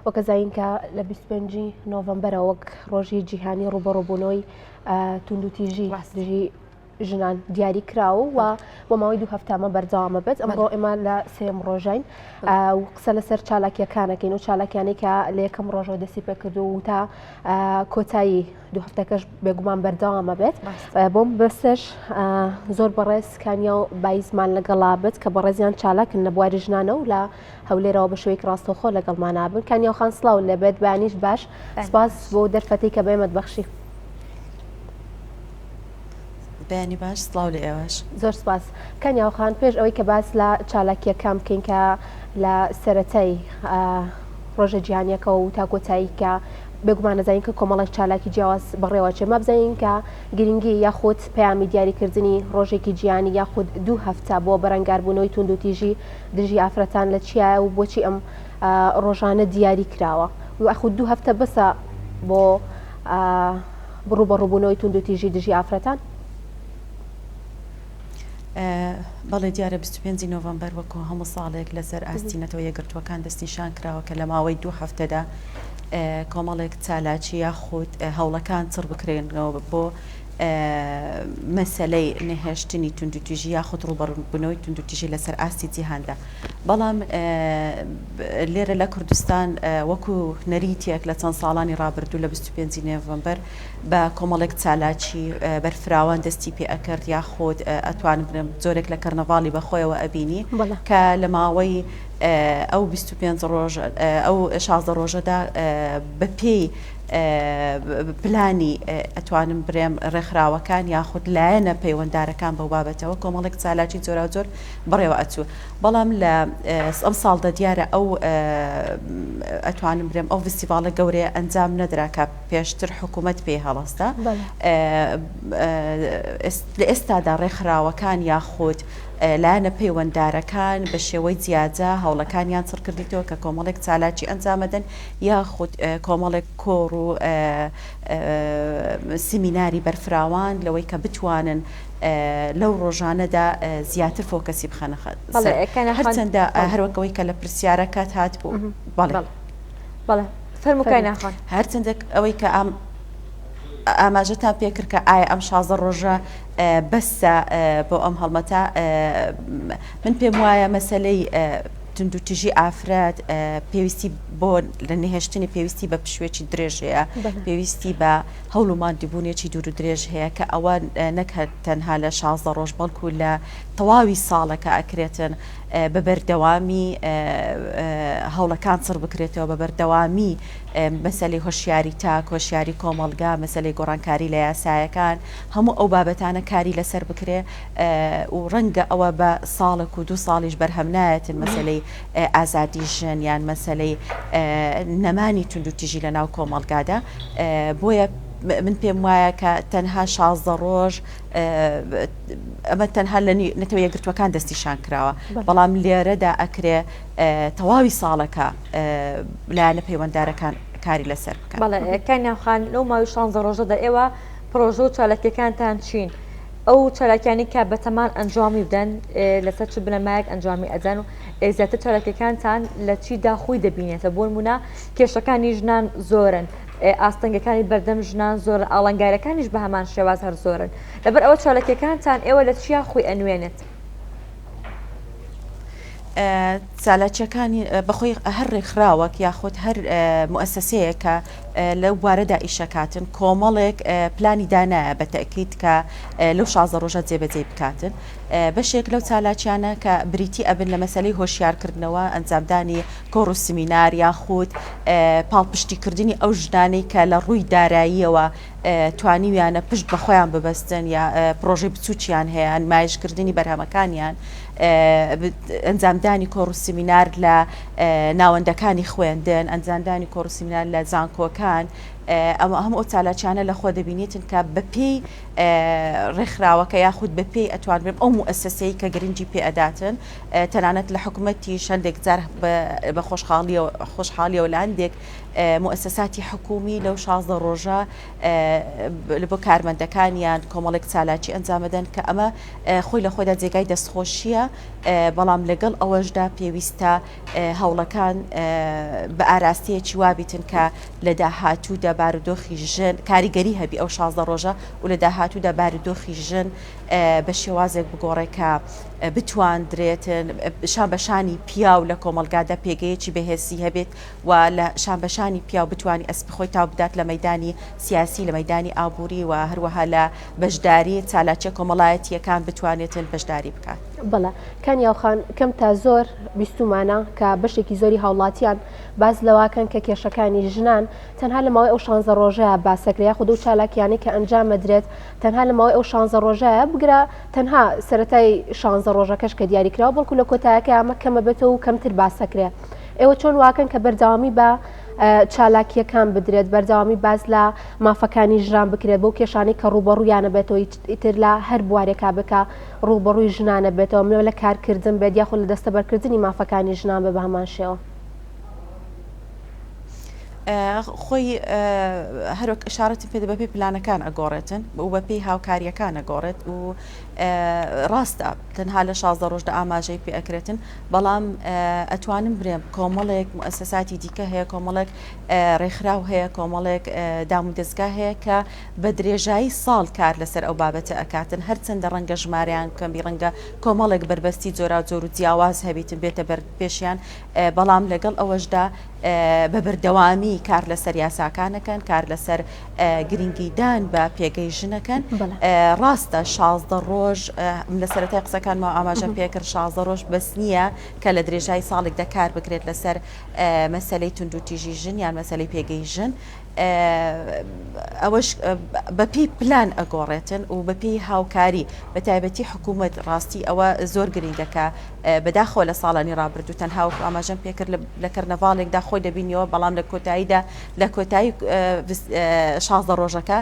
وکەزاینکە لە بیست و پێنج ی نۆڤەمبەرەوە وەک ڕۆژی جیهانی ڕوبەڕوبونەوەی توندوتیژی دژی ژنان دیاری کراو و بۆ ماوەی دوو هەفتامە بەردەوامە بێت ئەمڕۆ ئێمە لە سێم ڕۆژین و قسە لەسەر چالاکیەکانەکەین و چالاکیانی کە لە یەکەم ڕۆژەوە دەستی پێکردو و تا کۆتایی دوو هەفتەکەش بێگومان بەردەوامە بێت بۆم بەسش زۆر بەڕێز کانیا و بایزمان لەگەڵا بێت کە بەڕێزیان چالاکن لە بواری ژنانە و لە هەولێرەوە بە شوێک ڕاستەوخۆ لەگەڵما نابن کانیاوخان سلااو لە بێت بانیش باش سپاس بۆ دەرفەتی کە بەێمەت بەخشی بەنی باش سلااو لە ئێوەش زۆر سپاس کانیاوخان پێش ئەوەی کە باس لە چالاکیەکان بکەین کە لە سەتای ڕۆژە جیهانیەکەەوە و تاکۆتایی کە بێگومان نەزانین کە کۆمەڵێک چالاکی جیاواز بڕێوەچێ مابزانین کە گرنگی یاخود پەیامی دیاریکردنی ڕۆژێکی جیانی یاخود دوو هەفتە بۆ بەرەنگاربوونەوەی توندوتیژی دژی ئافرەتان لە چیایە و بۆچی ئەم ڕۆژانە دیاری کراوە یاخود دوو هەفتە بەسە بۆ بڕوو بە ڕووبوونەوەی تونند و تیژی دژی ئافرەتان بەڵێ دیارە 25 نۆڤمبەر وەکو هەموو ساڵێک لەسەر ئاستی نەتەوە یەکگرتووەکان دەستنیشان کراوە کە لە ماوەی دوو هەفتەدا کۆمەڵێک چالاکی یاخود هەوڵەکان چڕ بکرێنەوە بۆ مەسەلەی نەهێشتنی توندوتیژی یاخود ڕووبەڕووبوونەوەی توندوتیژی لەسەر ئاستی جیهاندا، بەڵام لێرە لە کوردستان وەکو نەریتێک لە چەند ساڵانی ڕابردوو لە بیست و پێنج ی نۆڤەمبەر بە کۆمەڵێک چالاکی بەرفراوان دەستی پێ ئەکرد یاخود ئەتوانم بڵێم جۆرێک لە کەرنەڤاڵی بە خۆیەوە ئەبینی کە لە ماوەی ئەو بیست و پێنج ڕۆژ ئەو شازدە ڕۆژەدا بە پێی پلانی ئەتوانم برێم ڕێکخراوەکان یاخود لایەنە پەیوەندارەکان بەو بابەتەوە کۆمەڵێک چالاکی جۆراوجۆر بڕێوە ئەچوو بەڵام لە ئەم ساڵدە دیارە ئەو ئەتوانم برێم ئەو فستیڤالە گەورەیە ئەنجام نەدراکە پێشتر حکوومەت پێ هەڵستا لە ئێستادا ڕێکخراوەکان یاخود لایەنە پەیوەندارەکان بە شێوەی جیاجا هەوڵەکانیان سڕکردیتەوە کە کۆمەڵێک چالاکی ئەنجامەدەن یاخود کۆمەڵێک کۆڕ و سیمیناری بەرفراوان لەوەی کە بتوانن لەو ڕۆژانەدا زیاتر فۆکەسی بخەنە هەرچەندە هەروەکەوەی کە لە پرسیارەکەت هات بوو بەڵێ بەڵێ فەرموکای ناخۆن هەرچەندێک ئەوەی کە ئەم ئاماژەتان پێکرد کە ئایا ئەم شازە ڕۆژە بەسە بۆ ئەم هەڵمەتە من پێم وایە مەسلەی توندوتیژی ئافرەت پێویستی بۆ لە نهێشتنی پێویستی بە پشوێکی درێژ هەیە پێویستی بە هەوڵ و مادیبوونێکی دوور و درێژ هەیە کە ئەوە نەکرد تەنها لە شازدە ڕۆژ بەڵکو لە تەواوی ساڵەکە ئەکرێتن بە بەردەوامی هەوڵەکان سڕ بکرێتەوە بە بەردەوامی مەسلی هۆشیاری تا کۆشیاری کۆمەلگا مەسلی گۆڕانکاری لە یاسایەکان هەموو ئەو بابەتانە کاری لەسەر بکرێ و ڕەنگە ئەوە بە ساڵێک و دوو ساڵیش بەرهەم نایەتن مەسەلەی ئازادی ژن یان مەسەلەی نەمانی توندوتیژی لە ناو کۆمەڵگادا بۆیە من پێم وایە کە تەنها شازدە ڕۆژ ئەمە تەنها لە نەتەوە یەگرتوەکان دەستیشان کراوە بەڵام لێرەدا ئەکرێ تەواوی ساڵەکە لایەنە پەیوەنددارەکان کاری لەسەر بکەن بەڵێ کانیاخان لەو ماوی شانزە ڕۆژەدا ئێوە پرۆژە و چالاکیەکانتان چین ئەو چالاکیانەی کە بەتەمان ئەنجامی بدەن لەسەر چ بنەمایەک ئەنجامی ئەدەن و زیاتر چالاکیەکانتان لە چیدا خۆی دەبینێتە بۆن مونە کێشەکانی ژنان زۆرن ئاستەنگەکانی بەردەم ژنان زۆر ئاڵنگارەکانیش بە هەمان شێواز هەر زۆرن لەبەر ئەوە چالاکیەکانتان ئێوە لە چیا خۆی ئەنوێنێت چالاکیەکانی بەخۆی هەر ڕێکخراوەک یاخود هەر موسسەیەکە لەو بوارەدا ئیشەکاتن کۆمەڵێک پلانی دانایە بە تەکیت کە لەو شازە ڕۆژە جێبەجێ بکاتن بەشێک لەو چالاکیانە کە بریتی ئەبن لە مەسلەی هۆشیارکردنەوە ئەنجامدانی کۆڕ و سمینار یاخود پاڵپشتیکردنی ئەو ژنانەی کە لە ڕووی داراییەوە توانیویانە پشت بە خۆیان ببەستن یا پرۆژەی بچووکیان هەیە نمایشکردنی بەرهەمەکانیان ئەنجامدانی کۆڕ و سمینار لە ناوەندەکانی خوێندن، ئەنجامدانی کۆڕ و سیمینار لە زانکۆکان، ئەوە هەموو ئەو چالاکییانە لە خۆ دەبینێتن کە بە پێی ڕێکخراوەکە یاخود بە پێی ئەتوانرێم ئەو موئەسەسەی کە گرنگی پێ ئەداتن تەنانەت لە حکومەتیش هەندێک جار بە خۆشحاڵیەوە لە هەندێک موئەسەساتی حکومی لەو شازدە ڕۆژە لە بۆ کارمەندەکانیان کۆمەڵێک چالاکی ئەنجامەدەن کە ئەمە خۆی لە خۆدا جێگای دەستخۆشیە بەڵام لەگەڵ ئەوەشدا پێویستە هەوڵەکان بە ئاراستەیەکی وابیتن کە لە داهاتوودا بارودۆخی ژن کاریگەری هەبی ئەو شازدە ڕۆژە و لە داهاتوودا بارودۆخی ژن بە شێوازێک بگۆڕێ کە بتواندرێتن شان بەشانی پیاو لە کۆمەلگادا پێگەیەکی بەهێسی هەبێت و لە شان بەشانی پیاو بتانی ئەسپی خۆی تا بدات لە مەدانی سیاسی لە مەدانی ئابووری و هەروەها لە بەشداری چالاکیە کۆمەڵایەتییەکان بتوانێتن بەشداری بکات. بەڵێ کانی ئاوخان کەم تا زۆر بیستومانە کە بەشێکی زۆری هاوڵاتیان باز لەواکەن کە کێشەکانی ژنان تەنها لە ماوەی ئەو شانزە ڕۆژەیە باسەکرێ یاخۆ دوو چالاکیانەی کە ئەنجامەدرێت تەنها لە ماوەی ئەو شانزە ڕۆژەیە بگرە تەنها سەتای شانزە ڕۆژەکەش کە دیاریکراوە بەڵکو لە کۆتایەکە ئەمە کەمە بێتەوە و کەمتر باسەکرێ ئێوە چۆن واکەن کە بەردەوامی بە چالاکییەکان بدرێت، بەردەوامی باس لە مافەکانی ژنان بکرێت، بەو کێشانەی کە ڕووبەڕوویانە بێتەوە، ئیتر لە هەر بوارێکا بێت کە ڕووبەڕووی ژنانە بێتەوە، مەو لە کارکردن بێت یاخود لە دەستەبەرکردنی مافەکانی ژنان بێت بە هەمان شێوە. خۆی هەر وەک ئشارەتم پێدا بەپێی پلانەکان ئەگۆڕێتن و بەپێی هاوکاریەکان ئەگۆڕێت و ڕاستە تەنها لە شازدە ڕۆژدا ئاماژەی پێ ئەکرێتن بەڵام ئەتوانم برێم کۆمەڵێک موسەساتی دیکە هەیە کۆمەڵێک ڕێکخراو هەیە کۆمەڵێک دام و دەستگا هەیە کە بە درێژایی ساڵ کار لەسەر ئەو بابەتە ئەکاتن هەرچەندە ڕەنگە ژمارەیان کەمی ڕەنگە کۆمەڵێک بەربەستی جۆرا جۆر و جیاواز هەبیتن بێتە بەر پێشیان بەڵام لەگەڵ ئەوەشدا بە بەردەوامی کار لەسەر یاساکانەکەن کار لەسەر گرنگیدان بە پێگەی ژنەکەن ڕاستە شازدە ڕۆژ لە سەرەتای قسەکانمەوە ئاماژەم پێکرد شازدە ڕۆژ بەس نییە کە لە درێژای ساڵێک دەکار بکرێت لەسەر مەسلەی توندوتیژی ژن یان مەسلەی پێگەی ژن ئەوەش بەپی پلان ئەگۆڕێتن و بەپی هاوکاری بە تایبەتی حکوومەت ڕاستی ئەوە زۆر گرنگەکە بەداخۆ لە ساڵانی ڕابردوو تەنها وەکو ئاماژەم پێکرد لە کەرنەڤالێکدا خۆی دەبینیەوە بەڵام لە کۆتاییدا لە کۆتایی شازدە ڕۆژەکە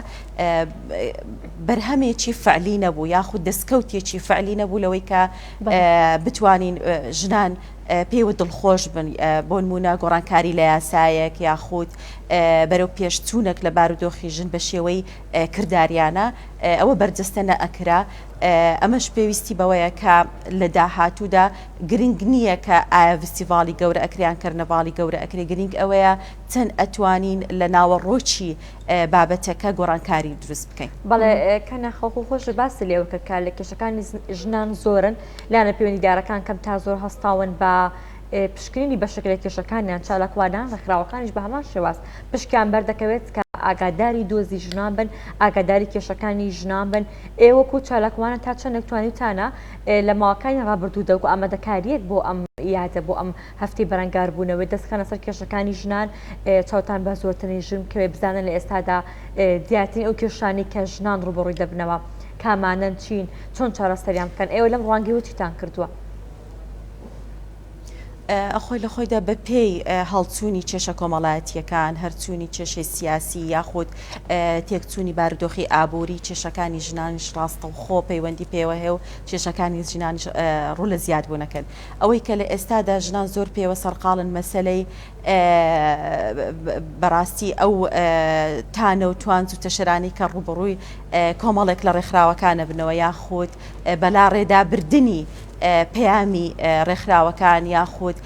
بەرهەمێکی فعلی نەبوو یاخود دەستکەوتێکی فعلی نەبوو لەوەی کە بتوانین ژنان پێوە دڵخۆش بن بۆ نمونە گۆڕانکاری لە یاسایەک یاخود بەرەو پێشچوونەک لە بارودۆخی ژن بە شێوەی کرداریانە ئەوە بەرجەستە نەئەکرا ئەمەش پێویستی بەوەیە کە لە داهاتوودا گرنگ نیە کە ئایا ڤستیڤاڵی گەورە ئەکرێ یان کەرنەڤاڵی گەورە ئەکرێ گرنگ ئەوەیە چەند ئەتوانین لە ناوەڕۆکی بابەتەکە گۆڕانکاری دروست بکەین. بەڵێ کە ناخۆخۆ خۆشت باست لێوە کرد کە لە کێشەکانی ژنان زۆرن لایەنە پەیوەندیدارەکان کەم تا زۆر هەستاون بە پشکنینی بەشێک لە کێشەکانیان چالاکوانان ڕێکخراوەکانیش بە هەمان شێواز پشکیان بەردەکەوێت کە ئاگاداری دۆزی ژنان بن ئاگاداری کێشەکانی ژنان بن ئێوەکو چالاکوانە تا چەندێک توانیتانە لە ماوەکانی ڕابردوو دەنگ و ئامادەکاریەک بۆ ئەم یادە بۆ ئەم هەفتی بەرەنگار بوونەوەی دەستخانە سەر کێشەکانی ژنان چاوتان بە زۆرترین ژن کەوێ بزانن لە ئێستادا دیاتین ئەو کێشانی کە ژنان ڕوبڕووی دەبنەوە کامانەن چین چۆن چارەسەریان بکەن ئێوە لەم ڕوانگەی وچیتان کردووە؟ خۆی لە خۆیدا بە پێی هەڵچوونی کێشە کۆمەڵایەتییەکان، هەرچوونی کێشەی سیاسی یاخود تێکچوونی بارودۆخی ئابووری کێشەکانی ژنانیش ڕاستەوخۆ پەیوەندی پێوە هەیە و کێشەکانی ژنان ڕوو لە زیادبوونەکەن ئەوەی کە لە ئێستادا ژنان زۆر پێوە سەرقاڵن مەسلەی بەڕاستی ئەو تانە و توانج و تەشرانی کە ڕوبڕووی کۆمەڵێک لە ڕێکخراوەکانە بنەوە یاخود بەلاڕێدابردنی پەیامی ڕێکخراوەکان یاخود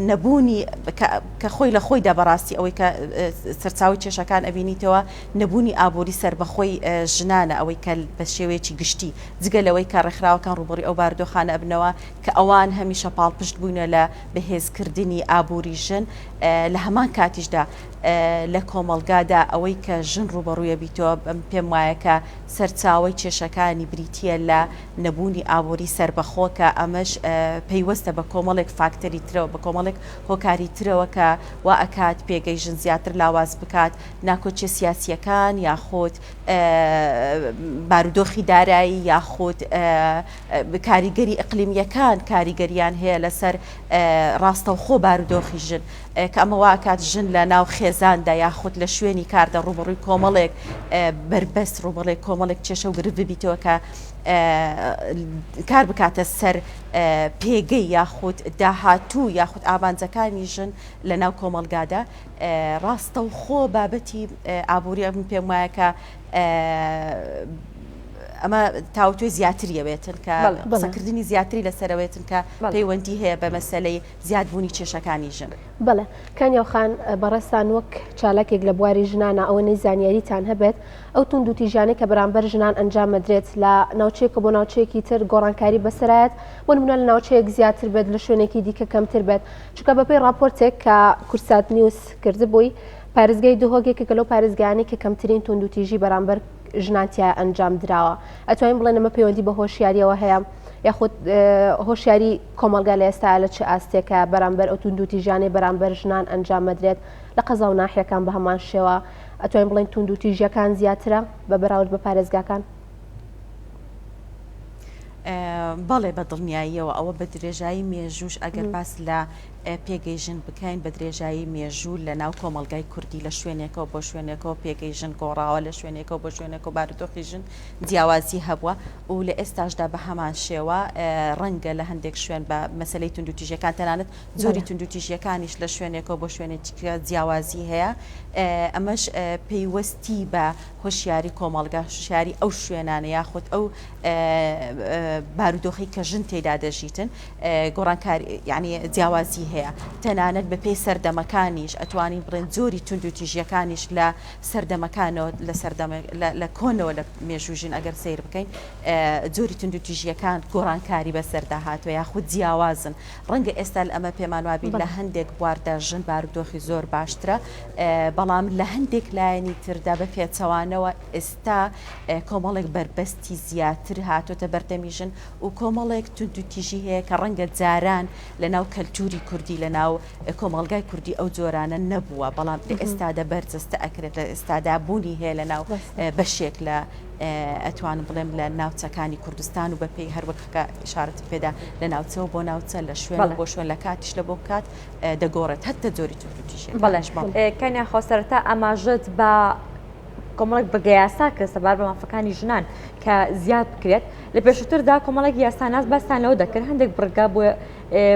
نەبوونی کە خۆی لە خۆیدا بەڕاستی ئەوەی کە سەرچاوی کێشەکان ئەبینیتەوە نەبوونی ئابووری سربەخۆی ژنانە ئەوەی کە بە شێوەیەکی گشتی جگە لەوەی کە ڕێکخراوەکان ڕوبەڕی ئەو باردۆخانە ئەبنەوە کە ئەوان هەمیشە پاڵپشت بوونە لە بەهێزکردنی ئابووری ژن لە هەمان کاتیشدا لە کۆمەڵگادا ئەوەی کە ژن ڕوبەڕوویە بیتەوە پێم وایە کە سەرچاوەی کێشەکانی بریتییە لە نەبوونی ئابووری سەربەخۆ کە ئەمەش پەیوەستە بە کۆمەڵێک فاکتەری ترەوە، بە کۆمەڵێک هۆکاری ترەوە کە وا ئەکات پێگەی ژن زیاتر لاواز بکات، ناکۆکییە سیاسییەکان یاخود بارودۆخی دارایی یاخود کاریگەری ئیقلیمییەکان کاریگەرییان هەیە لەسەر ڕاستەوخۆ بارودۆخی ژن. کە ئەمە وا ئەکات ژن لە ناو خێزاندا یاخود لە شوێنی کاردا ڕووبەڕووی کۆمەڵێک بەربەست ڕووبەڵێک کۆمەڵێک کێشە و گرفت ببیتەوە کە کار بکاتە سەر پێگەی یاخود داهاتوو یاخود ئامانجەکانی ژن لە ناو کۆمەلگادا ڕاستە و خۆ بابەتی ئابووری من پێم وایە کە ئەمە تاوتوێ زیاتریەوێتن کە قسەکردنی زیاتری لەسەرەوێتن کە پەیوەندی هەیە بە مەسلەی زیادبوونی کێشەکانی ژن. بەڵێ کانیاو خان بەڕێزتان وەک چالاکێک لە بواری ژنانە ئەوەنەی زانیاریتان هەبێت ئەو توندوتیژیانەی کە بەرامبەر ژنان ئەنجام ئەدرێت لە ناوچەیەکە بۆ ناوچەیەکی تر گۆڕانکاری بەسەرایەت بۆ نمونە لە ناوچەیەک زیاتر بێت لە شوێنێکی دیکە کەمتر بێت چونکە بەپێی ڕاپۆرتێک کە کوردسات نیوز کردبووی پارێزگای دهۆک یەکێکە لەو پارێزگایانەی کە کەمترین توندوتیژی بەرامبەر ژنان تیا ئەنجام دراوە ئەتوانین بڵێن ئەمە پەیوەندی بە هۆشیاریەوە هەیە یاخود هۆشیاری کۆمەلگا لە ئێستا لە چ ئاستێکە بەرامبەر ئەو توندوتی ژیانەی بەرامبەر ژنان ئەنجام مەدرێت لە قەزا و ناحیەکان بە هەمان شێوە ئەتوانین بڵێن توندوتی ژیەکان زیاترە بە بەراورد بە پارێزگاکان بەڵێ بە دڵنیاییەوە ئەوە بە درێژایی مێژوش ئەگەر باس لە پێگەی ژن بکەین بە درێژایی مێژوو لە ناو کۆمەڵگای کوردی لە شوێنێکەوە بۆ شوێنێکەوە پێگەی ژن گۆڕاوە لە شوێنێکەوە بۆ شوێنێکەوە بارودۆخی ژن جیاوازی هەبووە و لە ئێستاشدا بە هەمان شێوە ڕەنگە لە هەندێک شوێن بە مەسلەی توندوتیژەکان تەنانەت زۆری توندوتیژیەکانیش لە شوێنێکەوە بۆ شوێنێکە جیاوازی هەیە ئەمەش پەیوەستی بە هۆشیاری کۆمەڵگا شاری ئەو شوێنانە یاخود ئەو بارودۆخی کە ژن تێدا دەژیتن گۆڕانکاری یانی جیاوازی هەیە تەنانەت بەپێی سەردەمەکانیش ئەتوانین بڵێن جۆری توندوتیژیەکانیش لە سەردەمەکانەوە لە سەردەمە لە کۆنەوە لە مێژوژین ئەگەر سیر بکەین جۆری توندوتیژیەکان گۆڕانکاری بەسەردا هاتووە یاخود جیاوازن ڕەنگە ئێستا ئەمە پێمان وابی لە هەندێک بواردە ژن بارودۆخی زۆر باشترە بەڵام لە هەندێک لایەنی تردا بە پێچەوانەوە ئێستا کۆمەڵێک بەربەستی زیاتر هاتۆتە بەردەمیژن و کۆمەڵێک توندوتیژی هەیە کە ڕەنگە جاران لە ناو کەلتوری کوردی لە ناو کۆمەڵگای کوردی ئەو جۆرانە نەبووە بەڵام لە ئێستادا بەرجەستە ئەکرێت لە ئێستادا بوونی هەیە لە ناو بەشێک لە ئەتوانم بڵێم لە ناوچەکانی کوردستان و بە پێی هەروەک خکە شارەتی پێدا لە ناوچەوە بۆ ناوچە لە شوێن بۆ شوێن لە کاتیش لە بۆ کات دەگۆڕێت هەتە جۆری توندوتیژی بەڵێش کەنیاخۆ سەرتا ئاماژەت بە کۆمەڵێک بەگە یاسا کە سەبار بە مافەکانی ژنان کە زیاد بکرێت لە پێشووتردا کۆمەڵێک یاساناس باستان لەوە دەکرد هەندێک بڕگا بۆ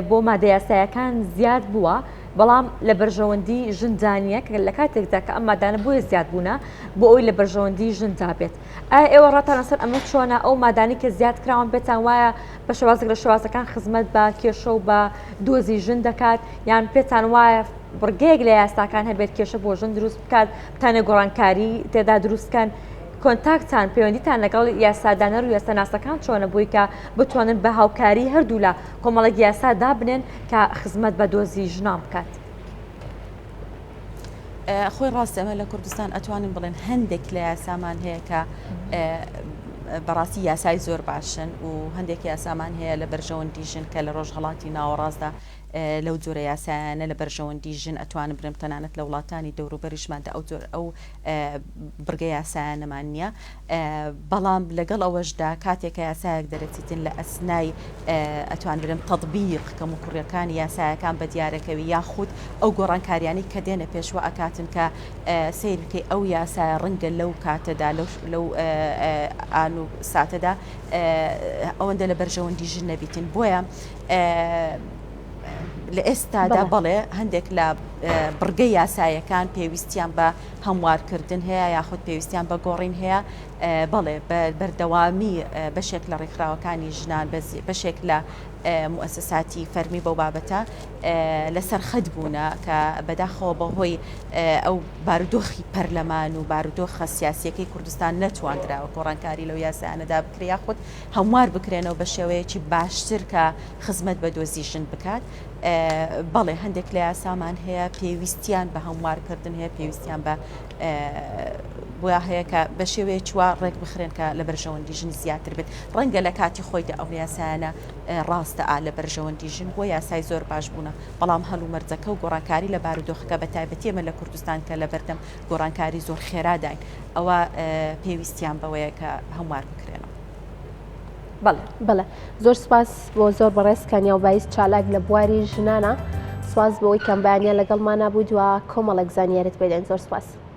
بۆ مادە یاسایەکان زیاد بووە بەڵام لە بەرژەوەندی ژندانە کە لە کاتێکدا کە ئەم مادانە بۆیە زیاد بوونە بۆ ئەوی لە بەرژەوەندی ژندا بێت ئایا ئێوە ڕاتان لەسەر ئەمە چۆنە ئەو مادانی کە زیاد کراون پێتان وایە بە شێوازێک لە شێوازەکان خزمەت بە کێشە و بە دۆزی ژن دەکات یان پێتان وایە بڕگەیەک لە یاساکان هەبێت کێشە بۆ ژن دروست بکات تانە گۆڕانکاری تێدا دروستکەن کۆنتاکتان پەیوەندیتان لەگەڵ یاسادانەر و یاسەناسەکان چۆنە بووی کە بتوانن بە هاوکاری هەردوولا کۆمەڵێک یاسا دابنێن کە خزمەت بە دۆزی ژنان بکات. خۆی ڕاست ئەمە لە کوردستان ئەتوانین بڵێن هەندێک لە یاسامان هەیە کە بەڕاستی یاسای زۆر باشن و هەندێک یاسامان هەیە لە بەرژەوەندی ژن کە لە ڕۆژهڵاتی ناوەڕاستدا لەو جۆرە یاسایانە لە بەرژەوەندی ژن ئەتوانم برێم تەنانەت لە وڵاتانی دەوروبەریشماندا ئەو جۆر ئەو بڕگە یاسایانەمان نییە بەڵام لەگەڵ ئەوەشدا کاتێکە یاسایەک دەرەچیتن لە ئەسنای ئەتوان برم تەطبیق کەم و کوڕیەکان یاسایەکان بە دیارەکەوی یاخود ئەو گۆڕانکاریانی کە دێنە پێشوە ئەکاتن کە سیرکەی ئەو یاسایە ڕەنگە لەو کاتەدا لەو لەو ئان و ساتەدا ئەوەندە لە بەرژەوەندی ژن نەبیتن بۆیە لە ئێستادا بەڵێ هەندێک لە بڕگە یاسایەکان پێویستیان بە هەموارکردن هەیە یاخود پێویستیان بە گۆڕین هەیە بەڵێ بەردەوامی بەشێک لە ڕێکخراوەکانی ژنان بەشێک لە موسساتی فەرمی بەو بابەتە لەسەر خەت بوونە کە بەداخەوە بەهۆی ئەو بارودۆخی پەرلەمان و بارودۆخە سیاسیەکەی کوردستان نەتواندراوە گۆڕانکاری لەو یاسایانەدا بکریا خودت هەموار بکرێنەوە بە شێوەیەکی باشتر کە خزمەت بە دۆزی ژن بکات بەڵێ هەندێک لە یاسامان هەیە پێویستیان بە هەموارکردن هەیە پێویستیان بە بۆیا هەیە کە بە شێوەیە چوە ڕێک بخرێن کە لە بەرژەوەندی ژن زیاتر بێت ڕەنگە لە کاتی خۆیدا ئەو یاسایانە ڕاستە ئا لە بەرژەوەندی ژن بۆ یاسای زۆر باش بوونە بەڵام هەلومەرجەکە و گۆڕانکاری لە بارودۆخەکە بە تایبەتی ئمە لە کوردستان کە لە بەردەم گۆڕانکاری زۆر خێراداین ئەوە پێویستیان بەوەیە کە هەموار بکرێنەوە. بەڵێ بەڵێ زۆر سپاس بۆ زۆر بەڕێز کانیا و بایست چالاک لە بواری ژنانە سپاس بۆەوەی کەمبیانە لەگەڵمانە بوو دوا کۆمەڵێک زانیارت پێدەین زۆر سپاس.